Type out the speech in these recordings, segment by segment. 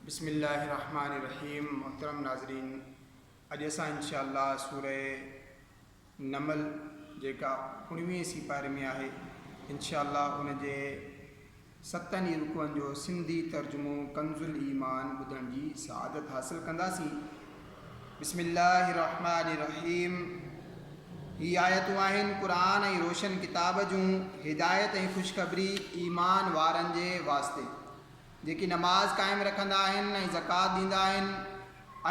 بسم الله الرحمٰن الرحيم محترم ناظرين اڄ اسان انشاء الله سوره نمل جيڪا اوڻويهين سي پاري ۾ آهي انشاء الله ان جي ستن ئي رڪوعن جو سنڌي ترجمو ڪنز الايمان ٻڌڻ جي سعادت حاصل ڪنداسين بسم الله الرحمٰن الرحيم هي آيتون آهن قرآن ۽ روشن ڪتاب جون هدايت ۽ خوشخبري ايمان وارن جي واسطي جيڪي نماز قائم رکندا آهن ۽ زڪوات ڏيندا آهن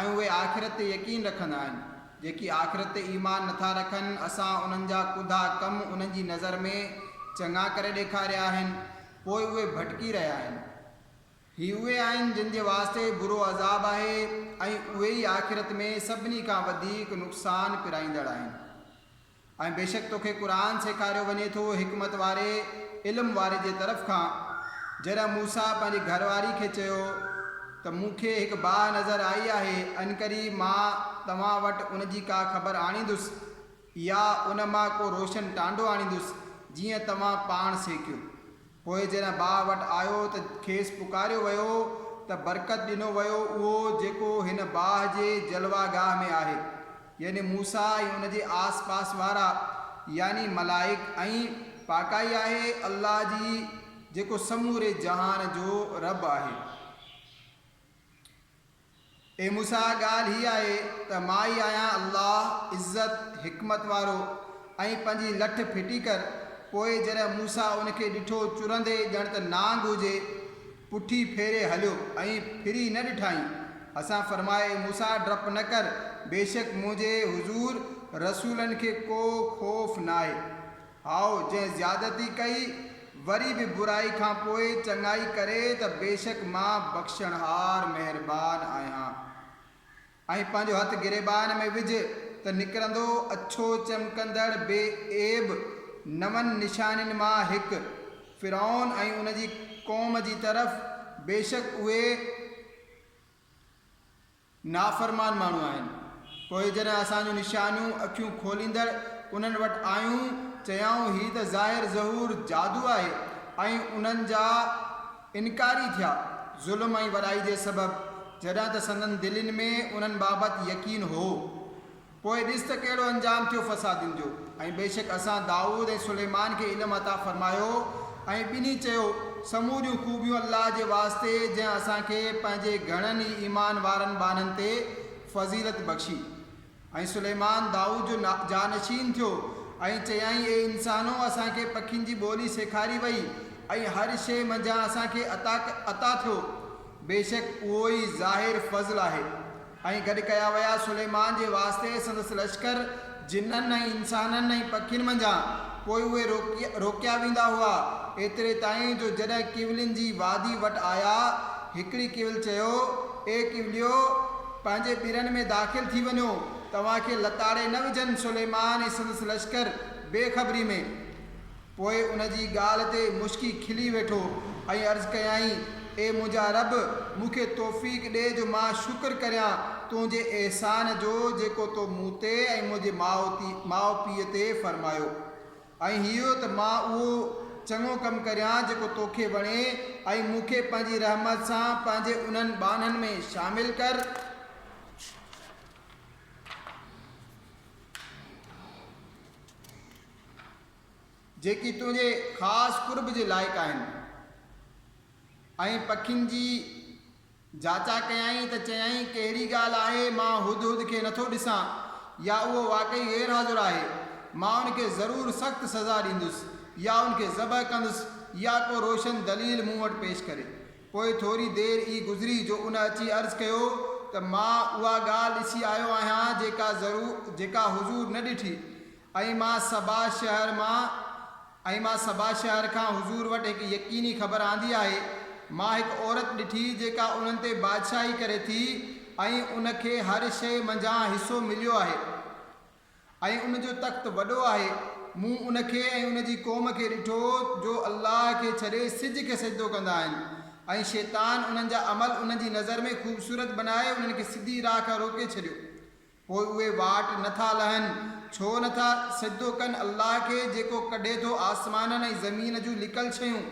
۽ اهي آخرت تي يقين رکندا آهن جيڪي آخرت تي ايمان نٿا رکن اسان انهن جا ڪوڌا ڪم انهن جي نظر ۾ چڱا ڪري ڏيکاريا آهن پوء اهي ڀٽڪي رهيا آهن. هي اهي آهن جن جي واسطي برو عذاب آهي ۽ اهي ئي آخرت ۾ سڀني کان وڌيڪ نقصان پرائيندڙ آهن. ۽ بيشڪ توکي قرآن سيکاريو وڃي ٿو حڪمت واري، علم واري، جي طرف کان، جڏهن موسيٰ پنهنجي گهر واري کي چيو ته مون کي هڪ باهه نظر آئي آهي انڪري مان توهان وٽ ان جي ڪا خبر آڻيندس يا ان مان ڪو روشن ٽانڊو آڻيندس جيئن توهان پاڻ سيکيو. پوء جڏهن باهه وٽ آيو ته کيس پڪاريو ويو ته برڪت ڏنو ويو اهو جيڪو هن باهه جي جلوه گاهه ۾ آهي، يعني موسيٰ ۽ ان جي آس پاس وارا، يعني ملائڪ ۽ پاڪائي آهي الله جي جيڪو سموري جهان جو رب آهي. اي موسيٰ ڳالهه هيء آهي ته مان ئي آهيان الله، عزت، حڪمت وارو ۽ پنهنجي لٺ ڦٽي ڪر پوء جڏهن موسيٰ ان کي ڏٺو چرندي ڄڻ ته نانگ هجي پٺي ڦيري هليو ۽ ڦري نه ڏٺائين اسان فرمايو اي موسيٰ ڊپ نه ڪر بيشڪ منهنجي حضور رسولن کي ڪو خوف ناهي. هائو، جنهن زيادتي ڪئي، وري به برائي کان پوء چڱائي ڪري ته بيشڪ مان بخشڻهار مهربان آهيان. ۽ پنهنجو هٿ گريبان ۾ وجهه ته نڪرندو اڇو چمڪندڙ بي عيب نون نشانين مان هڪ، فرعون ۽ ان جي قوم جي طرف، بيشڪ اهي، نافرمان ماڻهو آهن. پوء جڏهن اسان جون نشانيون اکيون کوليندڙ انهن وٽ آيون، چيائون، هي ته ظاهر ظهور جادو آهي ۽ انهن جا انڪاري ٿيا، ظلم ۽ وڏائي جي سبب، جڏهن ته سندن دلين ۾ انهن بابت يقين هو. پوء ڏس ته ڪهڙو انجام ٿيو فسادين جو. ۽ بيشڪ اسان دائود ۽ سليمان کي علم عطا فرمايو ۽ ٻنهي چيو، سموريون خوبيون الله جي واسطي جنهن اسان کي پنهنجي گهڻن ئي ايمان وارن ٻانهن تي فضيلت بخشي. ۽ سليمان دائود جو جانشين ٿيو ۽ چيائين، اي انسانؤ! اسان کي پکين جي ٻولي سيکاري وئي ۽ هر شيء منجهان اسان کي عطا عطا ٿيو. بيشڪ اهو ئي ظاهر فضل آهي. ۽ گڏ ڪيا ويا. سليمان جي واسطي سندس لشڪر جنن ۽ انسانن ۽ پکين منجهان پوء اهي روڪيا ويندا هئا، ايتري تائين جو جڏهن ڪيولين جي وادي وٽ آيا، هڪڙي ڪيول چيو، اي ڪيوليو! پنهنجي ٻرن ۾ داخل ٿي وڃو، توهان کي لتاڙي نه وجهن. سليمان ۽ سندس لشڪر بي خبري ۾. پوء ان جي ڳالهه تي مشڪي کلي ويٺو ۽ عرض ڪيائين، اي منهنجا رب! مون کي توفيق ڏي جو مان شڪر ڪريان تنهنجي احسان جو جيڪو تو مون تي ۽ منهنجي ماء ماء پيء تي فرمايو ۽ هيء ته مان اهو چڱو ڪم ڪريان جيڪو توکي وڻي ۽ مون کي پنهنجي رحمت سان پنهنجي انهن ٻانهن ۾ شامل ڪر. جيڪي تنهنجي خاص قرب جي لائق آهن. ۽ پکين جي جاچا ڪيائين ته چيائين، ڪهڙي ڳالهه آهي، مان هد هد کي نٿو ڏسان يا اهو واقعي غير حاضر آهي؟ مان ان کي ضرور سخت سزا ڏيندس يا ان کي ذبح ڪندس يا ڪو روشن دليل مون وٽ پيش ڪري. پوء ٿوري دير ئي گذري جو ان اچي عرض ڪيو ته مان اها ڳالهه ڏسي آيو آهيان جيڪا ضرور جيڪا حضور نه ڏٺي ۽ مان سبا شهر مان ۽ مان سبا شهر کان حضور وٽ هڪ يقيني خبر آندي آهي، مان هڪ عورت ڏٺي جيڪا انهن تي بادشاهي ڪري ٿي ۽ ان کي هر شيء منجهان حصو مليو آهي ۽ ان جو تخت وڏو آهي، مون ان کي ۽ ان جي قوم کي ڏٺو جو الله کي ڇڏي سج کي سجدو ڪندا آهن ۽ شيطان انهن جا عمل انهن جي نظر ۾ خوبصورت بنائي انهن کي سڌي راهه کان روڪي ڇڏيو. پوء اهي واٽ نه ٿا لهن، ڇو نه ٿا سجدو ڪن الله کي جيڪو ڪڍي ٿو آسمانن ۽ زمين جون لڪل شيون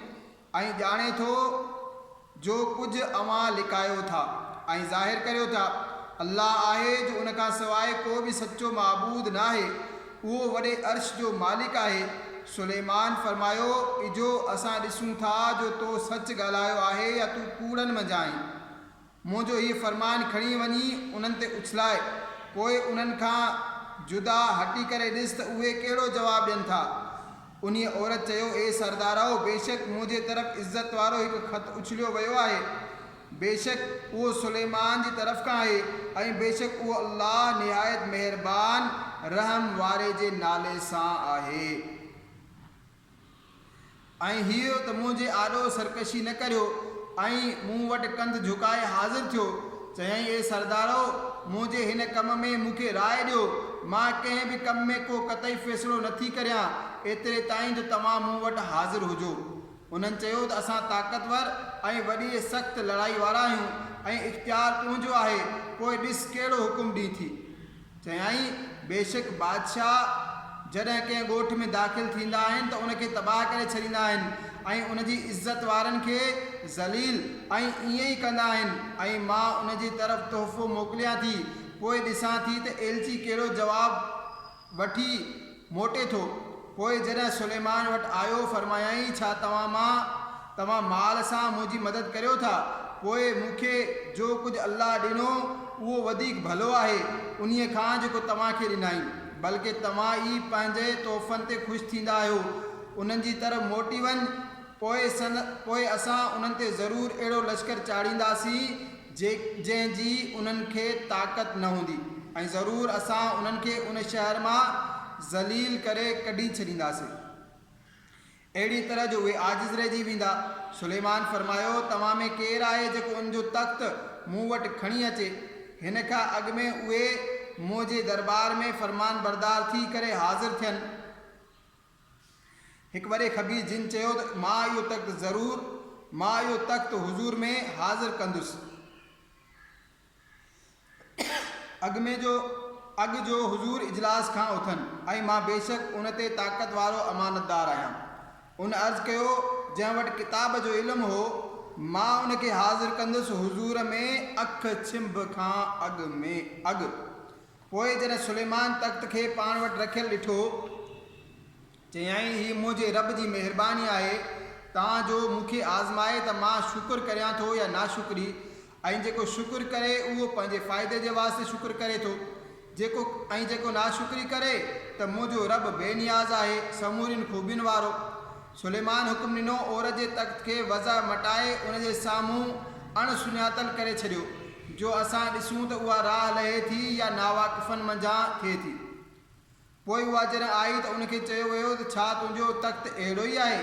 ۽ ڄاڻي ٿو جو ڪجهه اوهان لڪايو ٿا ۽ ظاهر ڪريو ٿا. الله آهي جو ان کان سواء ڪو به سچو معبود ناهي، اهو وڏي عرش جو مالڪ آهي. سليمان فرمايو، اجهو اسان ڏسون ٿا جو تو سچ ڳالهايو آهي يا تون ڪوڙن منجهان آهين. منهنجو هيء فرمان کڻي وڃي انهن تي اڇلائي، پوء انهن کان جدا هٽي ڪري ڏس ته اهي ڪهڙو جواب ڏين ٿا. انهيء عورت چيو، اي سردارؤ! بيشڪ منهنجي طرف عزت وارو هڪ خط اڇليو ويو آهي. بيشڪ اهو سليمان جي طرف کان آهي ۽ بيشڪ اهو الله نهايت مهربان رحم واري جي نالي سان آهي. ۽ هيء ته منهنجي آڏو سرڪشي نه ڪريو ۽ مون وٽ ڪنڌ جهڪائي حاضر ٿيو. چيائين، اي سردارؤ! منهنجي هن ڪم ۾ مون کي راء ڏيو. مان ڪنهن به ڪم ۾ ڪو قطعي فيصلو نه ٿي ڪريان، ايتري تائين جو توهان مون وٽ حاضر هجو. انهن چيو ته اسان طاقتور ۽ وڏيء سخت لڙائي وارا آهيون ۽ اختيار تنهنجو آهي، پوء ڏس ڪهڙو حڪم ڏئين ٿي. چيائين، بيشڪ بادشاهه جڏهن ڪنهن ڳوٺ ۾ داخل ٿيندا آهن ته ان کي تباهه ڪري ڇڏيندا آهن ۽ ان جي عزت وارن کي ذليل ۽ ائين ئي ڪندا آهن ۽ مان ان جي طرف تحفو موڪليان ٿي پوء ڏسان ٿي ته ايلچي ڪهڙو جواب وٺي موٽي ٿو. پوء جڏهن سليمان وٽ آيو، فرمايائين، ڇا توهان مان توهان مال سان منهنجي مدد ڪريو ٿا؟ پوء مون کي جو ڪجهه الله ڏنو، اهو وڌيڪ ڀلو آهي، انهيء کان جيڪو توهان کي ڏنائين. بلڪ توهان ئي پنهنجي تحفن تي خوش ٿيندا آهيو. انهن جي طرف موٽي وڃ، پوء اسان انهن تي ضرور اهڙو لشڪر چاڙهينداسين، جنهن جي انهن کي طاقت نه هوندي ۽ ضرور اسان انهن کي ان شهر مان ذليل ڪري ڪڍي ڇڏينداسين اهڙيء طرح جو اهي عاجز رهجي ويندا. سليمان فرمايو، توهان ۾ ڪير آهي جيڪو ان جو تخت مون وٽ کڻي اچي؟ هن کان اڳ ۾ اهي منهنجي درٻار ۾ فرمانبردار ٿي ڪري حاضر ٿين. هڪ وڏي خبير جن چيو ته مان اهو تخت ضرور مان اهو تخت حضور ۾ حاضر ڪندس. اڳ ۾ جو اڳ جو حضور اجلاس کان اٿن ۽ مان بيشڪ ان تي طاقت وارو امانتدار آهيان. ان عرض ڪيو جنهن وٽ ڪتاب جو علم هو مان ان کي حاضر ڪندس حضور ۾ اک ڇنڀ کان اڳ ۾ اڳ. پوء جڏهن سليمان تخت کي پاڻ وٽ رکيل ڏٺو، چيائين، هي منهنجي رب جي مهرباني آهي، تان جو مون کي آزمائي ته مان شڪر ڪريان ٿو يا ناشڪري، ۽ جيڪو شڪر ڪري، اهو پنهنجي فائدي جي واسطي شڪر ڪري ٿو، جيڪو ۽ جيڪو ناشڪري ڪري، ته منهنجو رب بي نياز آهي، سمورين خوبين وارو، سليمان حڪم ڏنو، عور جي تخت کي وضع مٽائي ان جي سامهون اڻ سڃاتل ڪري ڇڏيو، جو اسان ڏسون ته اها راهه لهي ٿي يا ناواقفن منجهان ٿئي ٿي. پوء اها جڏهن آئي ته ان کي چيو ويو ته ڇا تنهنجو تخت اهڙو ئي آهي؟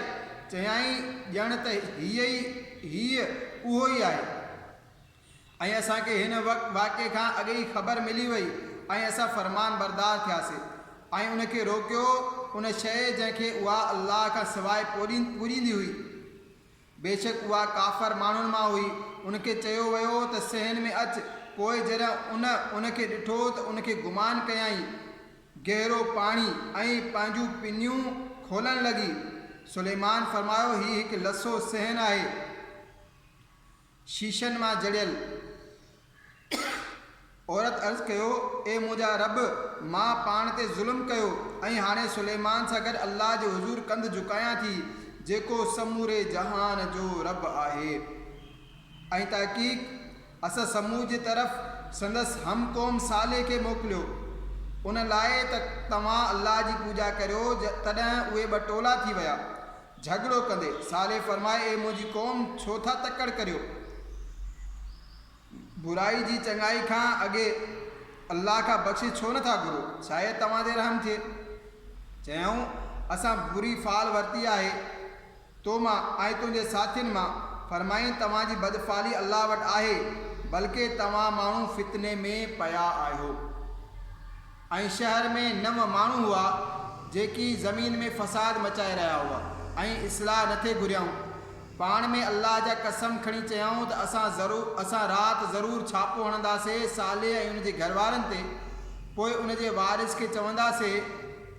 چيائين، ڄڻ ته هيء ئي هيء اهو ئي آهي. ۽ اسان کي هن واقعي کان اڳ ئي خبر ملي وئي ۽ اسان فرمانبردار ٿياسين ۽ ان کي روڪيو ان شيء جنهن کي اها الله کان سواء پوڄيندي هئي بيشڪ اها ڪافر ماڻهن مان هئي ان کي چيو ويو ته صحن ۾ اچ پوء جڏهن ان ان کي ڏٺو ته ان کي گمان ڪيائين گهرو پاڻي ۽ پنهنجون پنيون کولڻ لڳي سليمان فرمايو هي هڪ لسو صحن آهي. شيشن مان جڙيل عورت عرض ڪيو، اي منهنجا رب! مان پاڻ تي ظلم ڪيو ۽ هاڻي سليمان سان گڏ الله جي حضور ڪنڌ جهڪايان ٿي، جيڪو سموري جهان جو رب آهي ۽ تحقيق اسان ثمود جي طرف سندس هم قوم صالح کي موڪليو ان لاء ته توهان الله جي پوڄا ڪريو، تڏهن اهي ٻه ٽولا ٿي ويا. جهڳڙو ڪندي، صالح فرمائي، اي منهنجي قوم! ڇو ٿا تڪڙ ڪريو؟ برائي جي چڱائي کان اڳي الله کان بخشش ڇو نه ٿا گهرو؟ شايد توهان تي رحم ٿئي. چيائون، اسان بري فعل ورتي آهي تو مان ۽ تنهنجي ساٿين مان. فرمائين، توهان جي بدفعلي الله وٽ آهي، بلڪه توهان ماڻهو فتني ۾ پيا آهيو. ۽ شهر ۾ نو ماڻهو هئا جيڪي زمين ۾ فساد مچائي رهيا هئا ۽ اصلاح نه ٿي گهريائون پاڻ ۾ الله جا قسم کڻي چيائون ته اسان ضرو اسان رات ضرور ڇاپو هڻنداسي صالح ۽ ان جي گهر وارن تي پوء ان جي وارث کي چونداسي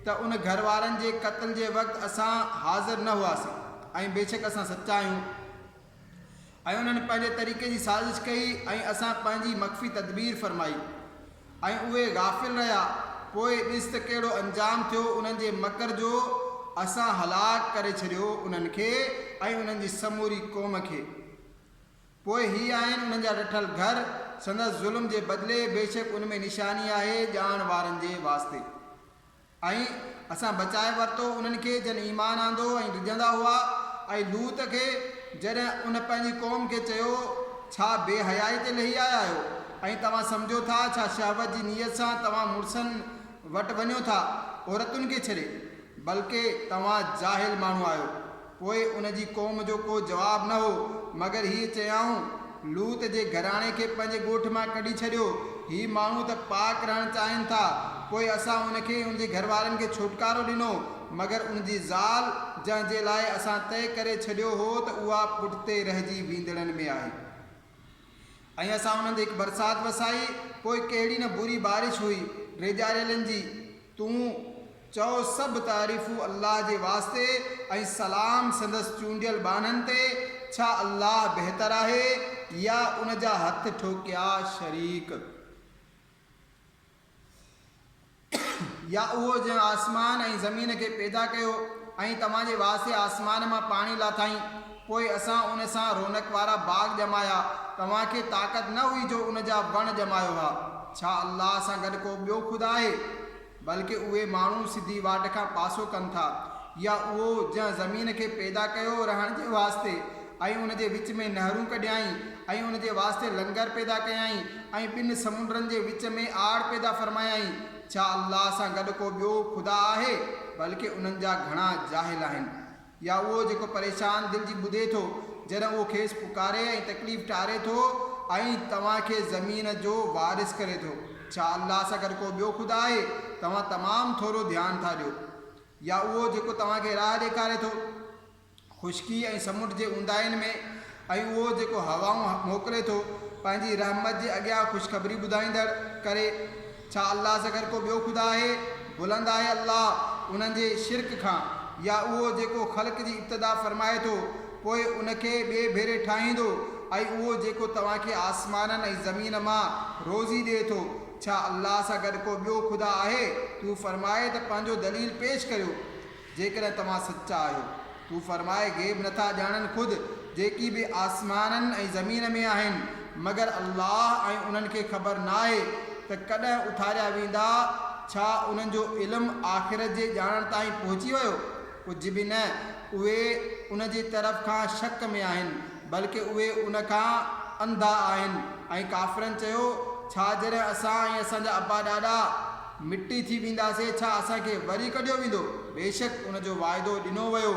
ته ان گهر وارن جي قتل جي وقت اسان حاضر نه هئاسين ۽ بيشڪ اسان سچا آهيون. ۽ انهن پنهنجي طريقي جي سازش ڪئي ۽ اسان پنهنجي مخفي تدبير فرمائي ۽ اهي غافل رهيا، پوء ڏس ته ڪهڙو انجام ٿيو انهن جي مڪر جو، اسان هلاڪ ڪري ڇڏيو انهن کي ۽ انهن جي سموري قوم کي. پوء هي آهن انهن جا ڏٺل گهر، سندس ظلم جي بدلي، بيشڪ ان ۾ نشاني آهي ڄاڻ وارن جي واسطي. ۽ اسان بچائي ورتو انهن کي جن ايمان آندو ۽ ڊڄندا هئا، ۽ لوط کي جڏهن ان پنهنجي قوم کي چيو، ڇا بي حيائي تي لهي آيا آهيو ۽ توهان سمجهو ٿا، ڇا شهوت جي نيت سان توهان مڙسن وٽ وڃو ٿا، عورتن کي ڇڏي، بلڪه توهان جاهل ماڻهو آهيو. پوء ان جي قوم جو ڪو جواب نه هو، مگر هيء چيائون، لوط جي گهراڻي کي پنهنجي ڳوٺ مان ڪڍي ڇڏيو، هي ماڻهو ته پاڪ رهڻ چاهين ٿا. پوء اسان ان کي ۽ ان جي گهر وارن کي ڇوٽڪارو ڏنو، مگر ان جي زال، جنهن جي لاء اسان طئي ڪري ڇڏيو هو ته اها پٺتي رهجي ويندڙن ۾ آهي. ۽ اسان انهن تي هڪ برسات وسائي، پوء ڪهڙي نه بري بارش هئي ڊيڄاريلن جي، تون چئو، سڀ تعريفون الله جي واسطي ۽ سلام سندس چونڊيل ٻانهن تي، ڇا الله بهتر آهي يا ان جا هٿ ٺوڪيا شريڪ؟ يا اهو جنهن آسمان ۽ زمين کي پيدا ڪيو ۽ توهان جي واسطي آسمان مان پاڻي لاٿائين، پوء اسان ان سان رونق وارا باغ ڄمايا، توهان کي طاقت نه هئي جو ان جا وڻ ڄمايو ها، ڇا الله سان گڏ ڪو ٻيو خدا آهي؟ بلڪ اهي ماڻهو سڌي واٽ کان پاسو ڪن ٿا. يا اهو جنهن زمين کي پيدا ڪيو رهڻ جي واسطي. ۽ ان جي وچ ۾ نهرون ڪڍيائين، ۽ ان جي واسطي لنگر پيدا ڪيائين، ۽ ٻن سمنڊن جي وچ ۾ آڙ پيدا فرمايائين. ڇا الله سان گڏ ڪو ٻيو خدا آهي؟ بلڪه انهن جا گهڻا جاهل آهن. يا اهو جيڪو پريشان دل جي ٻڌي ٿو، جڏهن اهو کيس پڪاري ۽ تڪليف ٽاري ٿو، ۽ توهان کي زمين جو وارث ڪري ٿو. ڇا الله سان گڏ ڪو ٻيو خدا آهي؟ توهان تمام ٿورو ڌيان ٿا ڏيو. يا اهو جيڪو توهان کي راهه ڏيکاري ٿو. خشڪي ۽ سمنڊ جي اونداهين ۾ ۽ اهو جيڪو هوائون موڪلي ٿو پنهنجي رحمت جي اڳيان خوشخبري ٻڌائيندڙ ڪري، ڇا الله سگھر ڪو ٻيو خدا آهي؟ بلند آهي الله انهن جي شرڪ کان، يا اهو جيڪو خلق جي ابتدا فرمائي ٿو پوء ان کي ٻئي ڀيري ٺاهيندو ۽ اهو جيڪو توهان کي آسمانن ۽ زمين مان روزي ڏئي ٿو، ڇا الله سان گڏ ڪو ٻيو خدا آهي؟ تون فرماء ته پنهنجو دليل پيش ڪريو. جيڪڏهن توهان سچا آهيو. تون فرماء، غيب نٿا ڄاڻن خود جيڪي به آسمانن ۽ زمين ۾ آهن، مگر الله ۽ انهن کي خبر ناهي ته ڪڏهن اٿاريا ويندا، ڇا انهن جو علم آخرت جي ڄاڻڻ تائين پهچي ويو؟ ڪجهه به نه، اهي ان جي طرف کان شڪ ۾ آهن، بلڪ اهي ان کان انڌا آهن ۽ ڪافرن چيو، ڇا جڏهن اسان ۽ اسان جا ابا ڏاڏا، مٽي ٿي وينداسين، ڇا اسان کي وري ڪڍيو ويندو؟ بيشڪ ان جو وعدو ڏنو ويو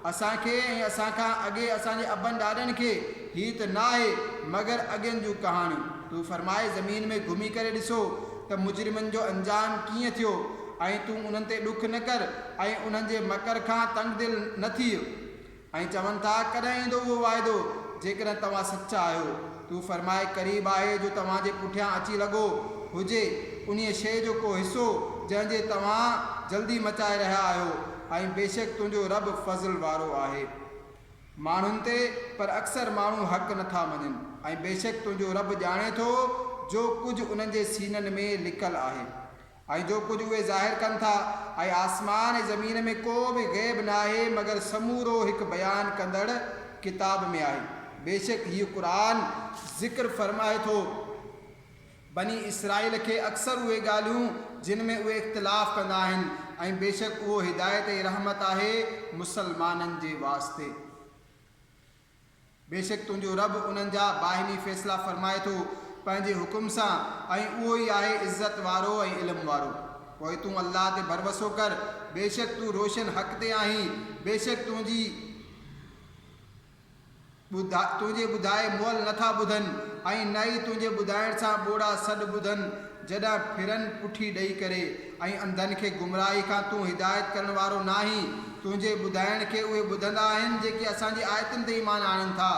اسان کي ۽ اسان کان اڳي اسان جي ابن ڏاڏن کي، هي ته ناهي مگر اڳين جون ڪهاڻيون، تون فرماء زمين ۾ گهمي ڪري ڏسو ته مجرمن جو انجام ڪيئن ٿيو ۽ تون انهن تي ڏک نه ڪر ۽ انهن جي مڪر کان تنگدل نه ٿيء، ۽ چون ٿا، ڪڏهن ايندو اهو واعدو، جيڪڏهن توهان سچا آهيو، تون فرماء، قريب آهي جو توهان جي پٺيان اچي لڳو، هجي، انهيء شيء جو ڪو حصو، جنهن جي توهان، جلدي مچائي رهيا آهيو، ۽ بيشڪ تنهنجو رب فضل وارو آهي، ماڻهن تي، پر اڪثر ماڻهو حق نه ٿا مڃن، ۽ بيشڪ تنهنجو رب ڄاڻي ٿو، جو ڪجهه انهن جي سينن ۾ لڪل آهي. ۽ جو ڪجهه اهي ظاهر ڪن ٿا ۽ آسمان ۽ زمين ۾ ڪو به غيب ناهي مگر سمورو هڪ بيان ڪندڙ ڪتاب ۾ آهي بيشڪ هيء قرآن ذڪر فرمائي ٿو بني اسرائيل کي اڪثر اهي ڳالهيون جن ۾ اهي اختلاف ڪندا آهن ۽ بيشڪ اهو هدايت ۽ رحمت آهي مسلمانن جي واسطي. بيشڪ تنهنجو رب انهن جا باهمي فيصلا فرمائي ٿو پنهنجي حڪم سان ۽ اهو ئي آهي عزت وارو ۽ علم وارو. پوء تون الله تي ڀروسو ڪر، بيشڪ تون روشن حق تي آهين، بيشڪ تنهنجي تنهنجي ٻڌائي مئل نه ٿا ٻڌن ۽ نه ئي تنهنجي ٻڌائڻ سان ٻوڙا سڏ ٻڌن، جڏهن ڦرن پٺي ڏئي ڪري ۽ انڌن کي گمراهي کان تون هدايت ڪرڻ وارو ناهين، تنهنجي ٻڌائڻ کي اهي ٻڌندا آهن جيڪي اسان جي آيتن تي ايمان آڻين ٿا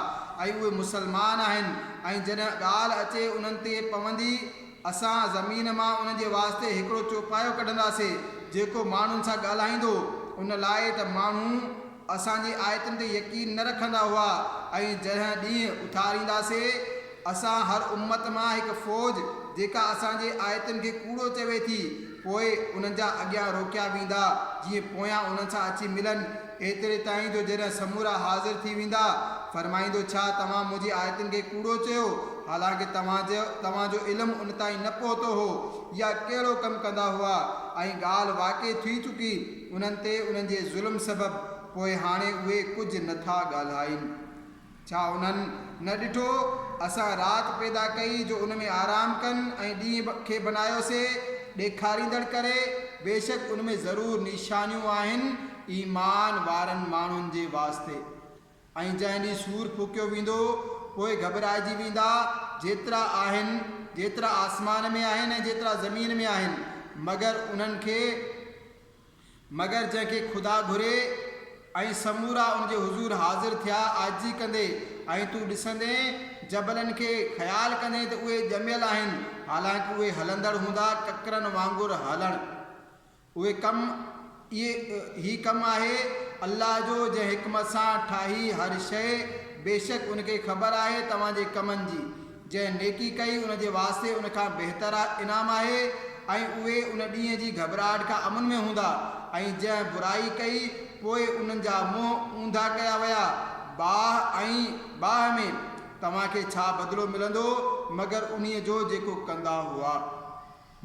۽ اهي مسلمان آهن ۽ جڏهن ڳالهه اچي انهن تي پوندي اسان زمين مان انهن جي واسطي هڪڙو چوپايو ڪڍنداسين جيڪو ماڻهن سان ڳالهائيندو ان لاء ته ماڻهو اسان جي آيتن تي يقين نه رکندا هئا ۽ جنهن ڏينهن اٿارينداسين اسان هر امت مان هڪ فوج جيڪا اسان جي آيتن کي ڪوڙو چوي ٿي پوء انهن جا اڳيان روڪيا ويندا جيئن پويان انهن سان اچي ملن ايتري تائين جو جڏهن سمورا حاضر ٿي ويندا فرمائيندو ڇا توهان منهنجي آيتن کي ڪوڙو چيو حالانڪه توهان توهان جو علم ان تائين نه پهتو هو يا ڪهڙو ڪم ڪندا هئا ۽ ڳالهه واقع ٿي چڪي انهن تي انهن جي ظلم سبب پوء هاڻي اهي ڪجهه نه ٿا ڳالهائين. ڇا انهن نه ڏٺو اسان رات پيدا ڪئي جو ان ۾ آرام ڪن ۽ ڏينهن کي بنايوسي ڏيکاريندڙ ڪري، بيشڪ ان ۾ ضرور نيشانيون آهن ايمان وارن ماڻهن جي واسطي. ۽ جنهن ڏينهن سور ڦوڪيو ويندو، پوء گهٻرائجي ويندا، جيترا آهن، جيترا آسمان ۾ آهن ۽ جيترا زمين ۾ آهن، مگر انهن کي، مگر جنهن کي خدا گهري، ۽ سمورا ان جي حضور حاضر ٿيا، عاجزي ڪندي، ۽ تون ڏسندين، جبلن کي، خيال ڪندين ته اهي ڄميل آهن، حالانڪ اهي هلندڙ هوندا، ڪڪرن وانگر هلڻ. اهي ڪم، اهي، هي ڪم آهي الله جو جنهن حڪمت سان ٺاهي هر شيء، بيشڪ ان کي خبر آهي توهان جي ڪمن جي، جنهن نيڪي ڪئي ان جي واسطي ان کان بهتر انعام آهي ۽ اهي ان ڏينهن جي گهٻراهٽ کان امن ۾ هوندا ۽ جنهن برائي ڪئي پوء انهن جا منهن اونڌا ڪيا ويا باهه ۽ باهه ۾ توهان کي ڇا بدلو ملندو مگر انهيء جو جيڪو ڪندا هئا.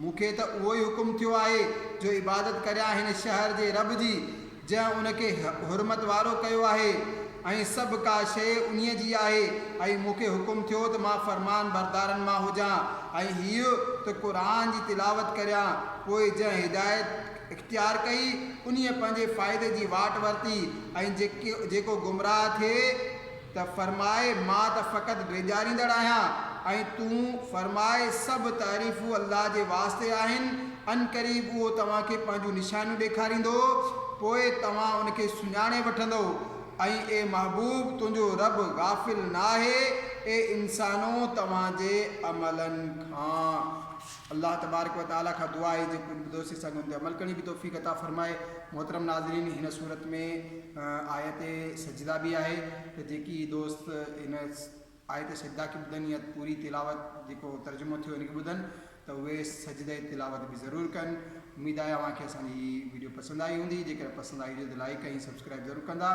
مون کي ته اهو ئي حڪم ٿيو آهي جو عبادت ڪريان هن شهر جي رب جي، جنهن ان کي حرمت وارو ڪيو آهي ۽ سڀ ڪا شيء انهيء جي آهي ۽ مون کي حڪم ٿيو ته مان فرمانبردارن مان هجان ۽ هيء ته قرآن جي تلاوت ڪريان، پوء جنهن هدايت اختيار ڪئي، انهيء پنهنجي فائدي جي واٽ ورتي ۽ جيڪو گمراهه ٿئي، ته فرماء مان ته فقط ڊيڄاريندڙ آهيان ۽ تون فرماء سڀ تعريفون الله جي واسطي آهن، عنقريب اهو توهان کي پنهنجون نشانيون ڏيکاريندو پوء توهان ان کي سڃاڻي وٺندؤ ۽ اي محبوب تنهنجو رب غافل ناهي اي انسانؤ توهان جي عملن کان. الله تبارڪ و تعالي کان دعا آهي جيڪو ان بدوسي سان گن تي عمل ڪرڻ جي به توفيق عطا فرمائي. محترم ناظرين هن سورت ۾ آيت سجده به آهي ته جيڪي دوست هن آيت سجده کي ٻڌن يا پوري تلاوت جيڪو ترجمو ٿيو ان کي ٻڌن ته اهي سجده تلاوت به ضرور ڪن. اميد آهي اوهان کي اسان جي هي ويڊيو پسند آئي هوندي جيڪڏهن پسند آئي هجي ته لائيڪ ۽ سبسڪرائيب ضرور ڪندا.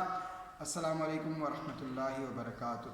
السلام عليڪم ورحمة الله وبرڪاته.